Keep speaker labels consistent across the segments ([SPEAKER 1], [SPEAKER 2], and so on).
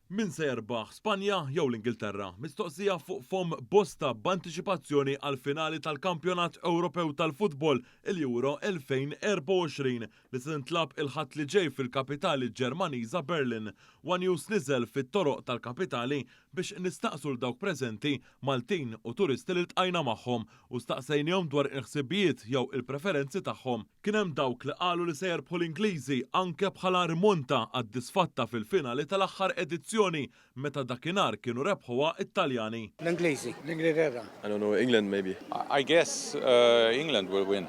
[SPEAKER 1] Min se jerbaħ, Spanja jew l-Ingilterra? Mistoqsija fuq fomm bosta b'antiċipazzjoni għall-finali tal-Kampjonat Ewropew tal-Futbol, il-Euro 2024, li se tintlagħab il-Ħadd li ġej fil-kapitali Ġermaniża Berlin, one News niżel fit-toroq tal-kapitali biex nistaqsu 'l dawk preżenti Maltin u turisti li ltqajna magħhom u staqsejnihom dwar il-ħsibijiet jew il-preferenzi tagħhom. Kien hemm dawk li qalu li se jerbħu l-Ingliżi anke bħala rimonta għad-disfatta fil-finali tal-aħħar edizzjoni meta dakinhar kienu rebħuha t-Taljani. L-Ingliżi.
[SPEAKER 2] L-Ingilterra. I don't know, England
[SPEAKER 3] maybe. I guess
[SPEAKER 4] England will win.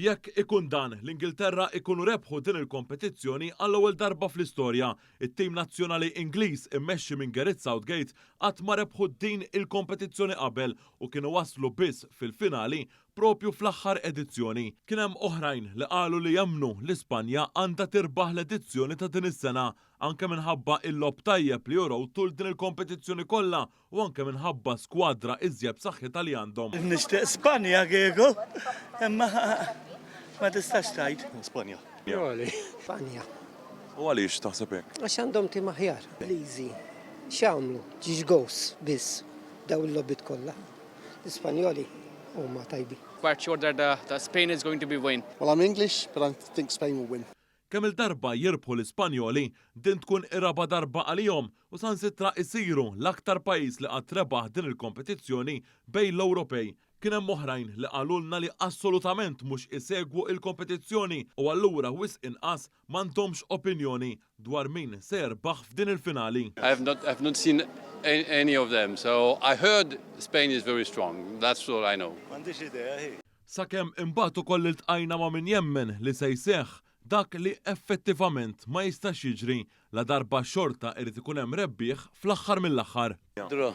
[SPEAKER 5] Jekk ikun
[SPEAKER 1] dan, l-Ingilterra jkunu rebħu din il-kompetizzjoni għall-ewwel darba fl-istorja. It-tim nazzjonali Ingliż immexxi minn Gareth Southgate qatt ma rebħu din il-kompetizzjoni qabel u kienu waslu biss fil-finali proprju fl-aħħar edizzjoni. Kien hemm oħrajn li qalu li jemmnu li Spanja għandha tirbaħ l-edizzjoni ta' din is-sena anke minħabba il-logħob tajjeb li urew tul din il-kompetizzjoni kollha u anke minħabba skwadra iżjed b'saħħitha li għandhom. Nixtieq Spanja
[SPEAKER 2] kieku, imma ma tistax tgħid. Spanja.
[SPEAKER 3] Spanja.
[SPEAKER 2] U
[SPEAKER 3] għaliex taħseb hekk? Għax għandhom tim aħjar.
[SPEAKER 6] Ingliżi. X'jagħmlu? Ġiex gows biss daw il-logħbiet kollha. L-Ispanjoli huma tajbin. Kwart xorta
[SPEAKER 7] ta' Spain is going to be win. Well I'm English but I
[SPEAKER 8] think Spain will win. Kemm-il darba
[SPEAKER 1] jirbħu l-Ispanjoli, din tkun ir-raba' darba għalihom u sansitra jsiru l-aktar pajjiż li qatt rebaħ din il-kompetizzjoni bejn l-Ewropej. Kien hemm oħrajn li qalulna li assolutament mhux isegwu il-kompetizzjoni u allura wisq inqas m'għandhomx opinjoni dwar min se jerbaħ f'din il-finali.
[SPEAKER 2] Sakemm imbagħad
[SPEAKER 1] ukoll iltqajna ma' min jemmen li se jseħħ dak li effettivament ma jistax jiġri, ladarba xorta irid ikun hemm
[SPEAKER 3] rebbieħ
[SPEAKER 1] fl-aħħar mill-aħħar. Draw.